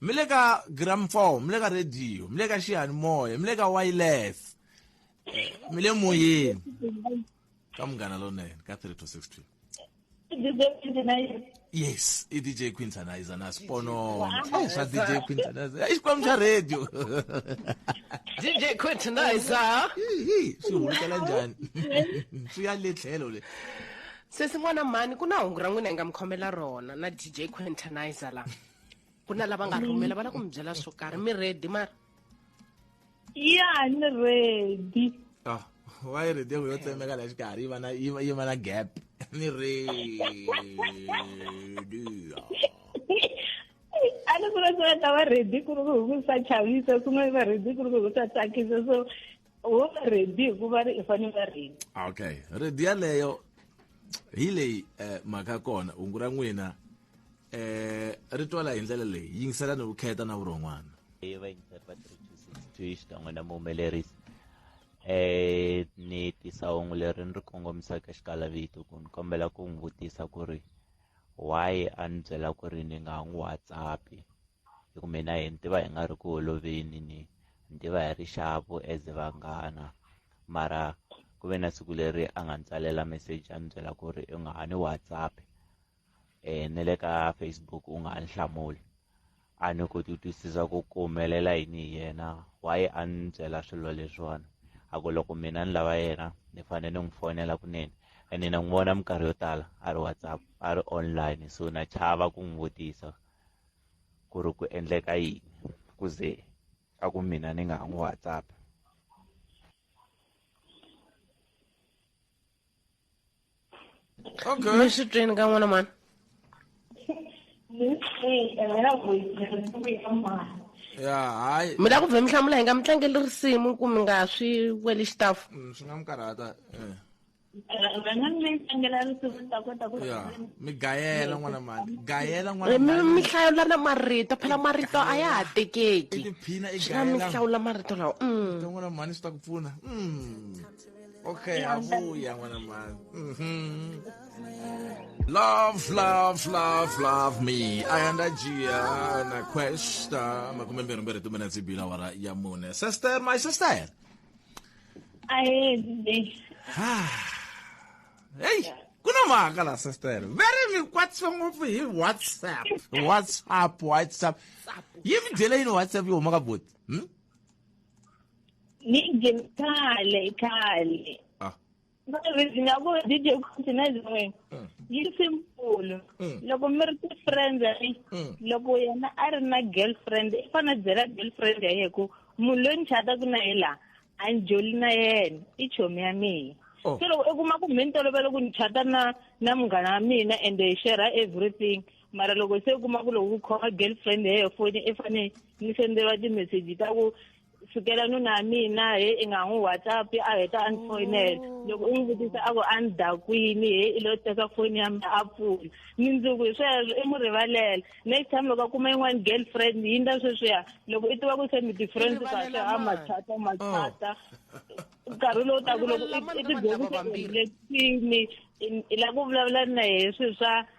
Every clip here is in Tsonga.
mi le ka gramphone mi le ka radio mi le ka xiyanimoya mi le ka wireless Eh, mi le moyeni ka munghana lonene ka 3 to 6 pm yes i dj quintanizer na sponono Eh, swa dj quintanizer i xikwembu xa radio dj quintanizer Hihi, swi hulukela njhani swi ya le tlhelo le sesin'wana mhani ku na hungu ra n'wina hi nga mi khomela rona na dj quintanizer la ku na lava nga rhumela va la ku mi byela swo karhi mi ready mara ya ni ready ah wa yi ready ku yo tsemeka la xikarhi yi va na yi va na gap ni ready a ni vula swi nga ta va ready ku ri ku hi ku sa chavisa swin'wana va ready ku ri ku hi ku sa tsakisa so wo va ready hikuva ri i fanele va ready okay ready yaleyo hi leyi um mhaka kona hungu ra n'wina eh ri twala hi ndlela leyi yingiselani vukheta na vurhon'wana hi vayingiseri va 3262 xikan'we na muhumelerisi eh ni tisa hungu leri ni ri kongomisaka xikalavito ku ni kombela ku n'wi vutisa ku ri why a ni byela ku ri ni nga n'wi whatsappi hi ku mina hi ni tiva hi nga ri ku holoveni ni ni tiva hi ri xavu as vanghana mara ku ve na siku leri a nga ni tsalela message a ni byela ku ri u nga ha ni whatsappi eh ne le ka Facebook u nga nhlamuli a ni koti ku twisisa ku ku humelela yini hi yena why a ni byela swilo leswiwani a ku loko mina ni lava yena ni fanele ni n'wi fonela kunene ene na n'wi vona minkarhi yo tala a ri whatsapp a ri online so na chava ku n'wi vutisa ku ri ku endleka yini ku ze a ku mina ni nga ha n'wi whatsapp ok mi swi twini ka n'wana mani ya hayi mi la ku vhe mi hlamula hi nga mi tlangeli risimu ku mi nga swi weli xitafu mm, swi nga mi karhata eh. ya mi gayela n'wana mani gayela eh, n'wana mi mi hlawula na marito phela marito a ya ha tekeki tiphina i swi nga mi gayela hlawula marito lawa mm. n'wana mani swi ta ku pfuna Mm. Okay, abuya ngwana mani. Mhm. Love, love, love, love me. Ayanda Gia na questa, ma come mbere mbere tu mena zibila wara ya mune. Sister, my sister. Aye, babe. Hey, kuna maka la sister. Very mi kwatsi ngopfu hi WhatsApp. WhatsApp, WhatsApp. Yimi dele ino WhatsApp yo maka bot. Hmm? ni njye kale kale Ah. mavezi nga ku dj continent n'we yi simple loko mi ri ti-friends ni Mm. loko yena a ri na girlfriend i fane a byela girlfriend ya yena ku munhu loyi ni chataku na ye laha a ni joli na yena i chomi ya mina Oh. se loko i kuma ku mhe ni tolovele ku ni chata na na munghana wa mina ende hi shera everything mara loko se i kuma ku loko ku khoma girlfriend ya yena foni i fane ni senderiwa timeseji ta ku sukela nuna ya mina he i nga n'wi whatsapp a heta a ni oh. foyinela loko u n'wi vutisa a ku a ni dakwini he i lo teka foni ya mina a pfula ni ndzungu hi sweswo i n'wi rivalela next time loko a kuma yin'wana girlfriend yi nda sweswiya loko i tiva ku se mi difference kahle a machata machata oh. nkarhi lowu taku loko i tidyondzisile thini i la ku vulavula na hi swi swa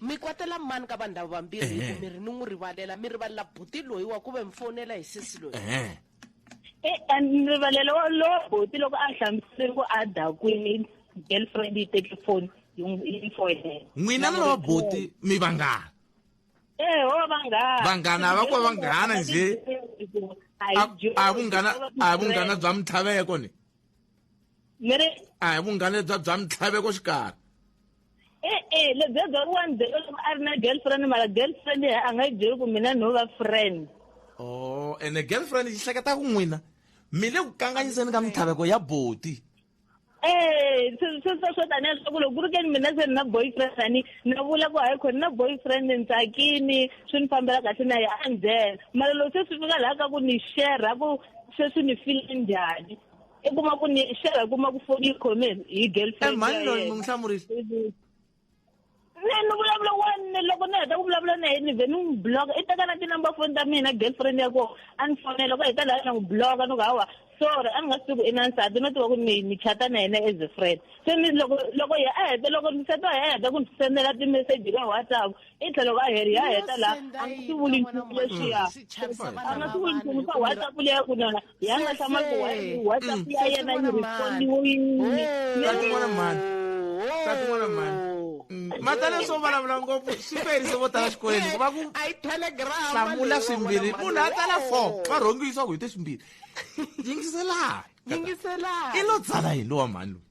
mi kwatela mani ka vanhu lava vambirhi hi ku mi ri ni n'wi rivalela mi rivalela buti loyi wa ku ve mi fonela hi sesi loyi ni rivalela wa lowa buti loko a hlamusele ku a dakwini girlfriend yi teke foni yi foyinela n'wina na lowa buti mi vanghana ee ho vanghana vanghana va ku va vanghana nje a vunghana a vunghana bya mitlhaveko ni a hi vunghana bya bya mitlhaveko xikarhi e-e le bebe wa ni byele loko a ri na girlfriend mara girlfriend a nga yi byeli ku mina no va friend o oh, ene girlfriend yi hleketa ku n'wina mi le ku kanganyiseni ka mintlhaveko ya boti ee eh, sweswo swo tanihi leswaku loko ku ri keni mina se ni na boyfriend ani ni vula ku hayi khoni na boyfriend ni tsakini swi ni fambela kahle na ye a ndzela mara loko se swi fika laha ka ku ni shera ku sweswi ni file njhani i kuma ku ni xera i kuma ku foni yi khome hi girlfriend mhani loyi mi n'wi hlamurisa ne ni vulavula wani loko ni heta ku vulavula na yena ni vhe ni n'wi bloka i teka na tinumber foni ta mina girlfriend ya kona a ni fonela loko heta laha na n'wi bloka ni ku hawa sorry a ni nga swi tivi ku i na nsati no tiva ku ni ni chata na yena as a friend se ni loko loko ye a heta loko nsati wa ye a heta ku ni sendela timeseji ka whatsapp i tlhela loko a heri ya heta laha a nga swi vuli nchumu leswiya a nga swi vuli nchumu ka whatsapp leya ku nona yanga kama ku WhatsApp ya yena yi respondiwile Tati n'wana mhani. Tati n'wana mhani. Mm. Matale swo vulavula ngopfu swi ferise vo tala xikolweni ku va ku a yi telegrama hlamula swimbirhi munhu a tsala four va rhongiwisa ku hi te swimbirhi yingiselani yingiselani i lo tsala hi lowa mhani loyi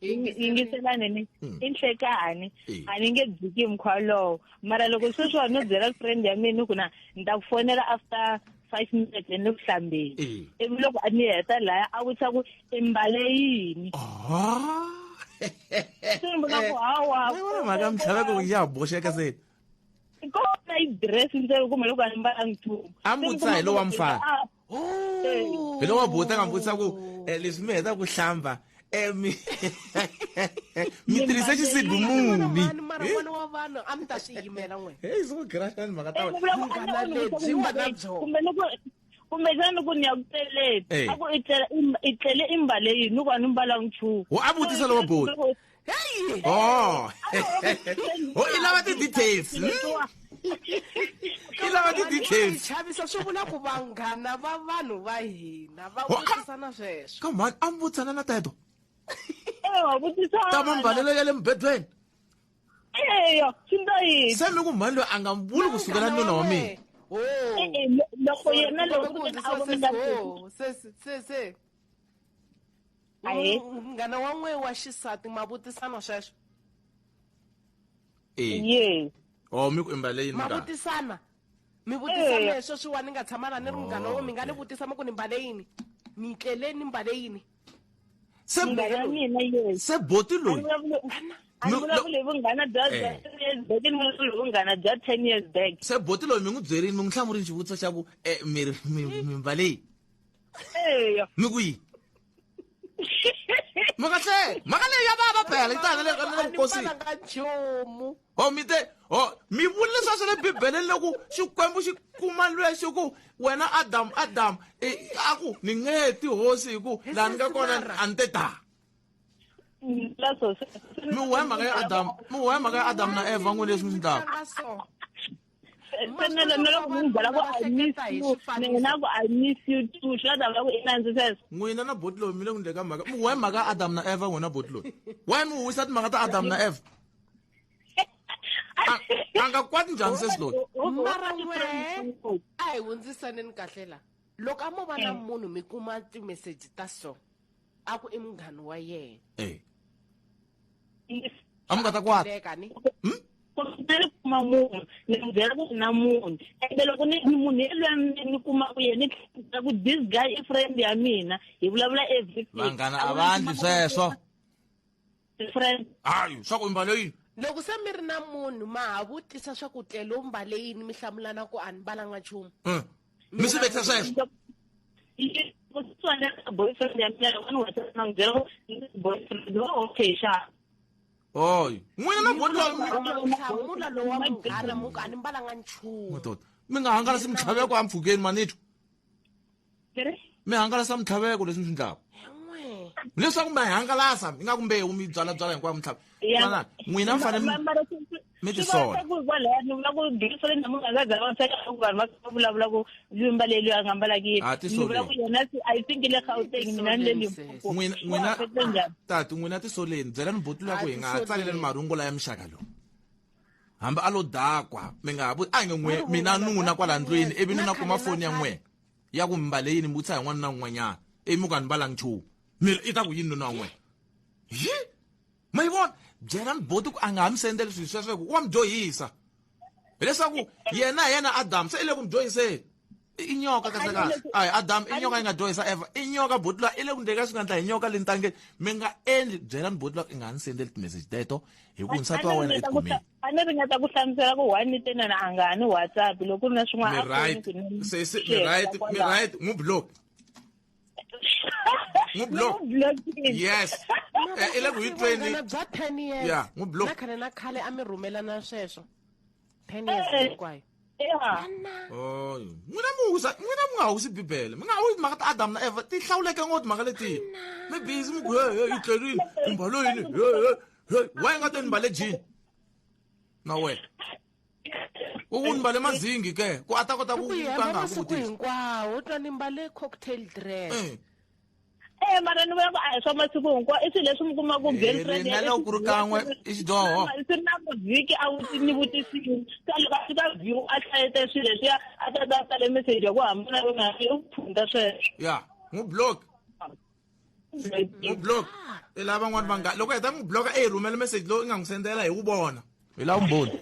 yingiselani ni hmm. i nhlekani a ni nge dziki mkhwa lowo mara loko sweswiwa no byela friend ya mina ku na ni ta ku fonela after five minutes ni ku hlambeni ivi loko a ni heta laya a vutisa ku i mbale yini mhaka mtlhava ku ya boxeka se kona i dress ntsena kumbe loko a ni mbalangi nchumu a mbutisa hi lowa mfana hi loko buta nga vutisa ku eh, leswi mi heta ku hlamba eh, mi mi tirhisa xisibi muni heyi so grashani mhaka ta wena lebyi nga na byona kumbexana loko ni ya ku tleleni a ku i tlele i mbale yini ni ku a ni mbalanga nchumu wo a vutisa lowa boti heyi oh ho i lava ti-details hmm? i lava ti-details chavisa swi vula ku vanghana va vanhu va hina va vutisana sweswo ka mhani a mi vutisana na teto ta mambalelo ya le mubedweni eya swi nda yini se mi ku mhani loyi a nga mi vuli ku sukela nuna wa mina loko yena loko se se Ahee. munghana wa n'we wa xisati ma vutisana sweswo Eh. yes Oh, mi ku imbale yini ma munghana? vutisana mi vutisana Eya. leswo swiwa ni nga tshama la ni ri munghana Oh, wo mi nga ni okay. vutisa mi ku ni mbale yini ni tlele ni mbale yini Se munghana wa mina yes se boti a ni loyi. vulavule a ni No, no. vulavule hi vunghana bya bya Eh. ten years back ni vulavule hi vunghana bya ten years back Se boti loyi mi n'wi byerini mi n'wi hlamurini xivutiso xa ku eh mi ri- mi mi mbale yini? eya mi ku yini mhaka se mhaka leyi ya vava phela yi tanga le nkosini nga nchumu o mi te o mi vuli leswa swa le bibeleni loku xikwembu xi kuma lwexi ku wena adamu adamu e, a ku ni nge ti hosi hi ku laha ni nga kona a ni te ta mi huwa hi mhaka ya adamu mi huwa hi mhaka ya adamu na evha n'wini leswi mi swi ndlaka se na na loko munhu byela ku i miss you ni n'wi na ku i miss you too swi la ta vula ku i nandzi sweswo n'wina na botlo mi le ku ndleka mhaka mu why mhaka adam na eva n'wina botlo why mi huwisa timhaka ta adam na eva a nga kwati njhani sweswi loyi mara n'we a hi hundzisaneni kahle la loko a mo va na eh. munhu mi kuma timeseji ta so a ku i munghani wa yena eh. a mi nga ta kwata Hleka ni. hmm? kumbe ni kuma munhu ni n'wi byela ku na munhu ende loko ni ni munhu yelweyo ni ni kumaka yena ni tlhela ku this guy i friend ya mina hi vulavula everything vanghana a va ndli sweswo friend hayi swa ku mbalo yini loko se mi ri na munhu ma ha vutisa swa ku tlelo mbale yini mi hlamulana ku a ni mbalanga nchumu Hmm. mi swi vekisa sweswo boyfriend ya mina loko ni whatsapp na n'wi byela boyfriend wa okay xa oy n'wina na bohlamula lowa munghana muku a ni mbalanga nchumu madoda mi nga hangalasi mintlhaveko empfhukeni manitho mi hangalasa mintlhaveko leswi mi swi ndlaka leswaku mi hangalasa ingaku mbewu mi byala byala hinkwayo mintlhava n'wina mi fanele mi swi vona tisola ku kwalaya ni vula ku bindzu ri namuntlha nga za va sweka ku vanhu va va vulavula ku limba leyi loyi a nga mbalaki yini Ah, ti ni vula ku soleni. yena se- i think le gauteng mina ni le limpopo n'wina Wa n'wina fete njhani? tati n'wina tisoleni byelani botulu ya ku hi nga ha tsaleleni marungulo ya mixaka lowu hambi a lo dakwa mi nga ha vu a nge n'we mina nuna kwala ndlwini ivi ni na kuma foni ya n'wena ya ku mbale yini mi vutisa hi n'wana na un'wanyana ivi mi ku a ni mbalangi nchumu mi ri i ta ku yini nuna wa n'wena hi ma yi vona byela miboti ku a nga ha mi sendeli swilo sweswo ku wa mi dyohisa hileswaku yena hi yena adamu se i le ku mi dyohiseni i nyoka kahlekahle a hi adamu i nyoka yi nga dyohisa eva i nyoka boti lwa i le ku ndleni ka swi nga ndla hi nyoka le ntangeni mi nga endli byela ni boti lwa i nga ha ni sendeli timeseji teto hi ku nsati wa wena etikhomeni a ni ringeta ku hlamusela ku one ni tenana a nga ha ni whatsapp loko ku ri na swin'wana a ku ni ku ni mi right mi right mu block n'wi block N'wi block-ini. yes Eh, i le ku hi tweni Vunghana bya 10 years Yeah, n'wi block. na khale na khale a mi rhumelana sweswo 10 years Eh. hinkwayo Yeah. Oh, n'wina mi wisa n'wina mi nga wisi bibele mi nga wi timhaka ta adamu na eva ti hlawuleke ngopfu timhaka letiyi mi bizi mi ku he he yi tlerile i mbalo yini he he he wa yi nga te ni mbale jini na wena u mbale mazingi ke ku a ta kota ku ka nga ku tisa hinkwawo u twa ni mbale cocktail dress eh. eh mara ni vona ku a hi swa masiku hinkwawo i swilo leswi mi kuma ku eh, girlfriend na loko ku ri kan'we i xidyoho swi ri na mavhiki a wu ni vutisini ka loko a fika view a hlayete swilo leswiya a ta ta tsale message ya ku hambana ku nga u phunda sweswo ya n'wi block n'wi block i lava van'wani va nga loko heta n'wi block e hi rhumela message lowu i nga n'wi sendela hi wu vona hi lava vumbhoni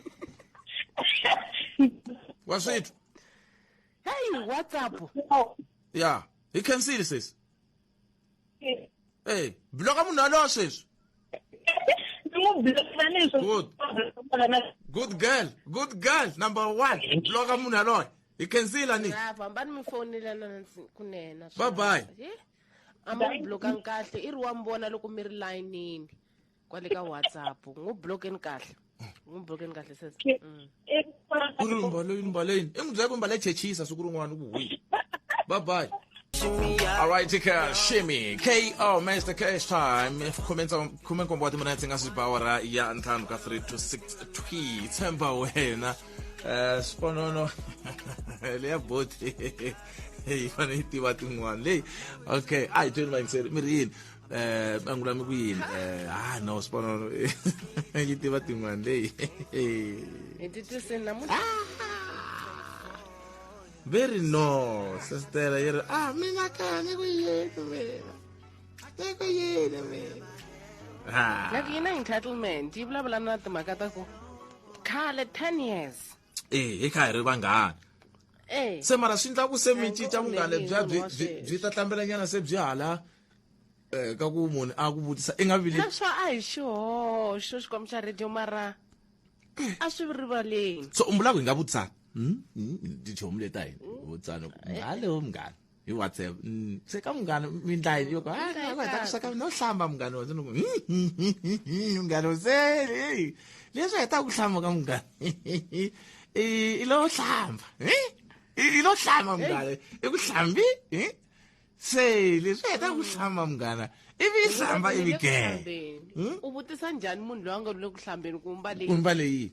wa swithu hey whatsapp ya hi cancel sesi ey bloka munhu yalowo sweswi good good girl good girl number one bloka munhu yaloye hi kenzila ni lava hambani mi fonela nansi kunena Bye bye. a ma n'wi blokanga kahle i ri wa mi vona loko mi ri layinini kwale ka whatsapp n'wi blokeni kahle n'wi blokeni kahle sese Mm. ku ri mbaleni mbaleni i n'wi byela ku mbale chechisa siku rin'wana ku hwi bye bye All right, Tika Shimmy, KO, Master Cash Time, khume ntsa- khume nkombo wa timinetse nga swi ba awara ya ntlhanu ka 3 to 6 twi tshemba wena Eh, sponono leyi ya boti yi fane yi tiva tin'wana leyi okay a hi tweni vayingiseri mi ri yini eh bangu lami ku yini eh ah no sponono yi tiva tin'wana leyi hi titisini namuntlha very no sestela yi ri ah mina kani ku yini mina akekho yini mina ah. like yi na entitlement yi vulavula na timhaka ta ku khale ten years eh hi kha hi ri vanghana eh. se mara swi endla ku se mi cinca vunghana bya byi ta hlambelanyana se byi hala um ka ku munhu a ku vutisa i nga vili swa a hi xihoxo xikwambo xa radio mara a swi rivaleni so umbulako hi nga vutisana hmm? hmm? tichomu leta hina vutisana ngale wo mngani hi whatsapp mm, se ka munghana mindlayi yo ka "Ah, Mindlayi va ta ku sweka no hlamba munghana wa ndzi munghana se hey, leswi a hi ta ku hlamba ka munghana i i lo hlamba eh? i i lo hlamba munghana i ku hlambi eh? se leswi a hi ta ku hlamba munghana ivi i hlamba ivi gee Hlambeni. u vutisa njhani munhu loyi a nga lule ku hlambeni ku mbale kumba leyi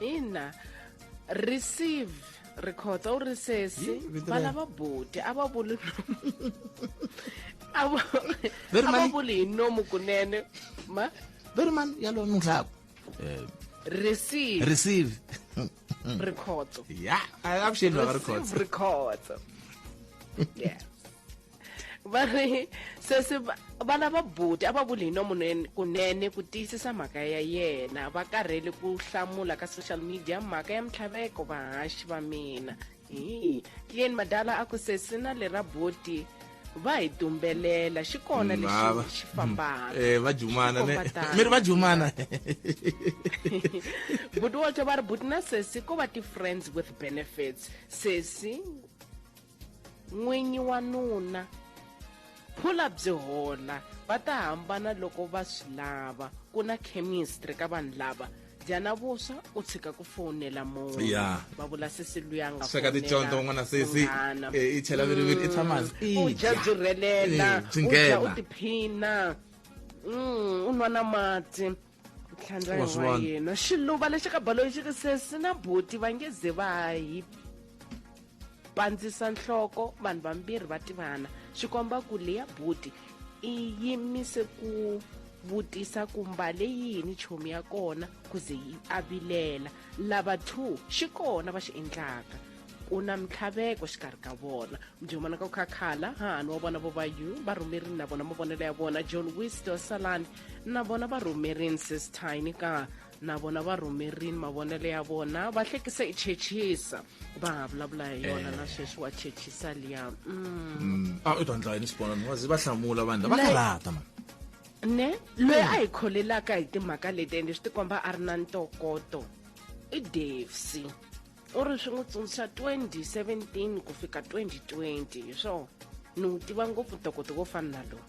ina receive rikhotsa u ri sesi vana va boti a va vuli a va vuli hi nomu kunene ma very man yalo nhlaku eh, receive receive rikhotso ya avuxeni vaka rikhotso rikhotso yeah va ri sesi vana va buti a va vuli hi nomu kunene ku tiyisisa mhaka ya yena va karhele ku hlamula ka social media mhaka ya mintlhaveko vahaxi va mina hi clean madala a ku sesi na le ra buti va hi dumbelela xi kona lexi xi fambaka eh, va jumana mi ri va jumana buti walter va ri buti na sesi ko va ti-friends with benefits sesi n'winyi wa nuna phula byi hola va ta hambana loko va swi lava ku na chemistry ka vanhu lava dyana vuswa u tshika ku fowunela munhu yeah. va vula sesi luya nga sweka ticonto n'wana sesi eh, i chela viriviri i mm. tshama u dya byi rhelela eh, u dya u tiphina mm, u nwa na mati tlhandla Wa swi wa vona. yena xiluva lexi ka baloyi xi ri sesi na buti va nge ze va hi pandzisa nhloko vanhu vambirhi va tivana swi komba ku leya buti i yimise ku vutisa ku mbale yini chomi ya kona ku ze yi avilela lava two xi kona va xi endlaka ku na mintlhaveko xikarhi ka vona mujomana ka ku khakhala hahani wa vona vo va yu va rhumerini na vona mavonelo ya vona john wisto saland na vona va rhumerini sis tiny ka na vona va rhumerini mavonelo ya vona va hlekisa i chechisa va ha vulavula hi yona eh. na sweswi wa chechisa liya mm. mm. a ah, u ta ndla yini sibonani wazi va hlamula vanhu lava karata mani ne loyi a hi kholelaka hi timhaka leti ende swi tikomba a ri na ntokoto i davesy u ri swi n'wi tsundzuxa 2017 ku fika 2020 hi swona ni wu tiva ngopfu ntokoto wo fana na lowu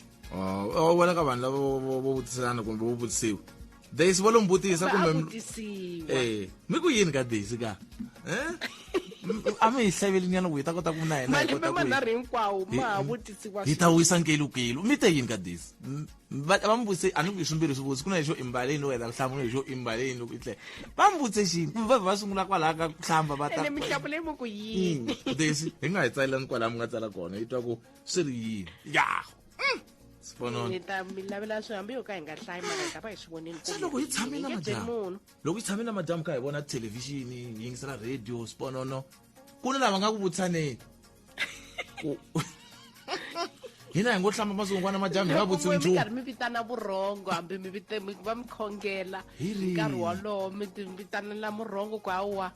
oh, u vona ka vanhu lava vo vutiselana kumbe vo vutisiwa daisy vo lo mbutisa kumbe eh, mi ku yini ka daisy ka eh? a mi hi hlavelinyana ku hi ta kota ku na yena hi ta wisa nkelu kelu mi te yini ka daisy hmm? va va n'wi vutise a ni ku i swimbirhi swivutsi ku na lexo i mbale yini wena vuhlamu ni lexo i mbale yini loko i tlele va n'wi vutise xini kumbe va vhe va sungula kwalaha ka ku hlamba va ta ene mihlamu leyi mo ku yini Mm, desi hi nga hi tsalelani kwalaha mi nga tsala kona yi twa ku swi ri yini yaho sifonona ni ta mi lavela swi hambi yo ka hi nga hlayi mara hi ta va hi swi vonile se loko hi tshame na madyambu munhu loko hi tshame na madyambu ka hi vona thelevhixini hi yingisela radio sponono ku na lava nga ku vutisaneni hina hi ngo hlamba masiku n'wana madyambi hi va vutsi nchumu karhi mi vitana vurhongo hambi mi va mi khongela nkarhi wolowo mi vitanela murhongo ku hawa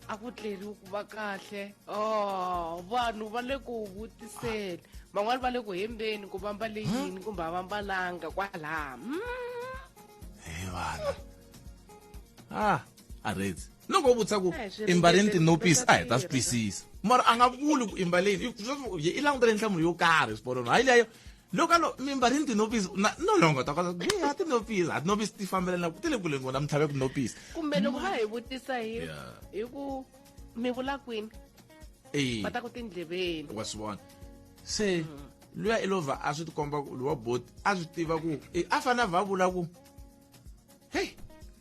a ku tleriwi ku va kahle o oh, vanhu va le ku vutiseni van'wani va le ku hembeni ku va mbale yini kumbe a va mbalanga kwalaha hmm. he vana a ah. a rezi loko wo vutisa ku i mbarini tinopisi a hi ta swi twisisa mara a nga vuli ku i mbaleni i langutele nhlamulo yo karhi swiporoni hayi leyo loko alo mi mbarini tinopisi no longo ta kota ku a tinopisi a tinopisi ti fambelana ku ti le kuleni kona mi tlhave ku nopisi kumbe loko va hi vutisa hi hi ku mi vula kwini va ta ku tindleveni wa swi vona se luya i lova a swi tikomba ku luwa boti a swi tiva ku a fanele a va vula ku hey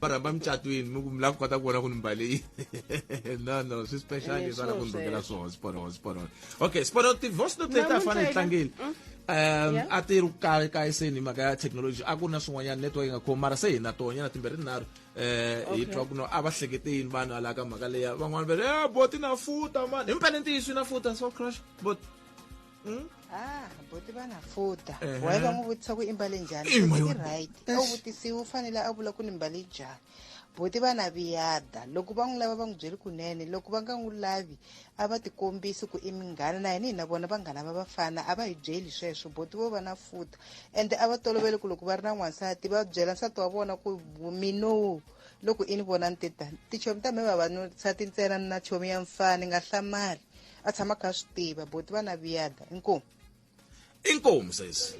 vanhu va mucatwini mi ku mi lava kota ku vona ku ni mbale yini no no swi special leswi va lava ku ni rhungela swona sporo sporo okay sporo tivoice note leti a fane hi tlangile mm. um a ti ri kahle kahle se ni mhaka ya technology a ku na swin'wanyana network yi nga khomi mara se hi na tonyana timbirhi tinharhu eh, um hi twa ku no a va hlekete yini vanhu ala ka mhaka leya van'wana va ri e eh, boti na futa mani hi mpele ntiyiso yi na futa so crush bot Hmm? ah boti va na futa uh -huh. wayeva n'wi vutisa ku i mbale njhani i right a wu vutisiwi u fanele a vula ku ni mbale njhani boti va na viyada loko va n'wi lava va n'wi byeli kunene loko va nga n'wi lavi a va tikombisi ku i minghana na yini hi na vona vanghana va vafana a va hi byeli sweswo boti vo va na futa ende a va tolovele ku loko va ri na n'wansati va byela nsati wa vona ku minowu loko i ni vona ni titani tichomi ta mhe vavanusati ntsena ni na chomi ya mfana ni nga hlamali a tshama kha swi tiva boti va na viyada inkomu inkomu sesi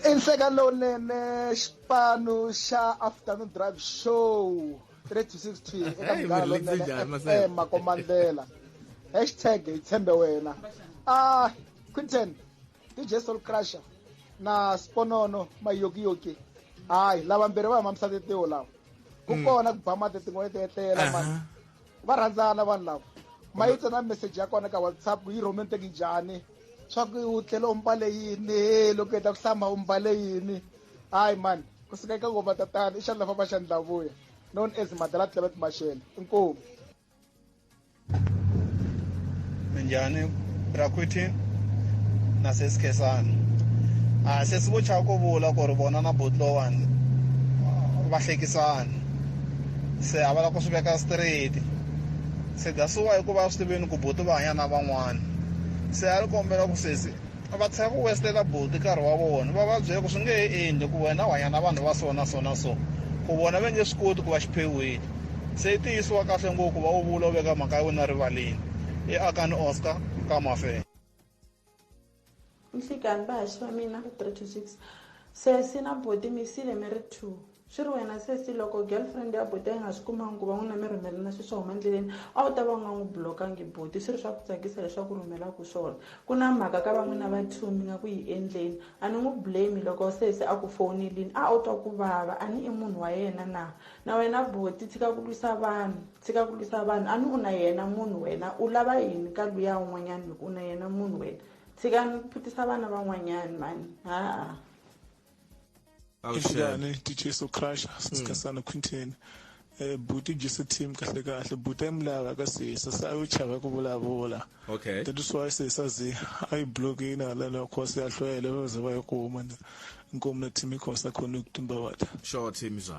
i nhleka lowunene xipano xa afternoon drive show 3 to 60 eka mugala lowunene makomandlela hashtag hi tshembe wena a ah, quinton dj soul crusher na sponono mayokiyoki hayi lava mbirhi va huma misati tiwo lawa ku mhm. kona ku ba mati tin'wani ti etlela mani va rhandzana vanhu lava ma yi tsena message ya kona ka whatsapp ku yi romantic njhani swa ku u tlhela u mbale yini he loko heta ku hlamba u mbale yini hayi mani ku suka eka ngoma tatana i xandla famba xandla vuya known as madala clement mashele inkomu minjhani braquiti na sesikhesana a ah, sesi vo chava ku vula ku ri vona na botlowani va hlekisana se a va lava ku swi veka straight se that's why ku va swi tiveni ku buti va hanya na van'wana se a ri kombela ku sesi va tshika ku westela buti nkarhi wa vona va va byela ku swi nge he endli ku wena u hanya na vanhu va so na so na so ku vona va nge swi koti ku va xiphewini se yi tiyisiwa kahle ngopfu va wu vula u veka mhaka ya wena rivaleni i akani oscar ka mafela nhlikani vahaxi va mina va 3 to 6 sesi na boti mi sile mi ri two swi ri wena sesi loko girlfriend ya boti a yi nga swi kumangi ku va n'wina mi rhumelana swi swa huma endleleni a wu ta va u nga n'wi blokangi boti swi ri swa ku tsakisa leswaku rhumelaku swona ku na mhaka ka va n'wina va two mi nga ku yi endleni a ni n'wi blame loko sesi a ku fowunelini a wu twa ku vava a ni i munhu wa yena na na wena boti tshika ku lwisa vanhu tshika ku lwisa vanhu a ni u na yena munhu wena u lava yini ka luya un'wanyani loko u na yena munhu wena tshika ni phutisa vana van'wanyani mani haa Injani DJ So Crusher sisikasana Quintin eh buti Jesse team kahle kahle buti emlaka ka sisa sa u chava ku vulavula okay that is why sisa zi i block ina la la khosi ya hlwele va ze va yi kuma nkomo na team khosa khona ku tumba wata sure team zwa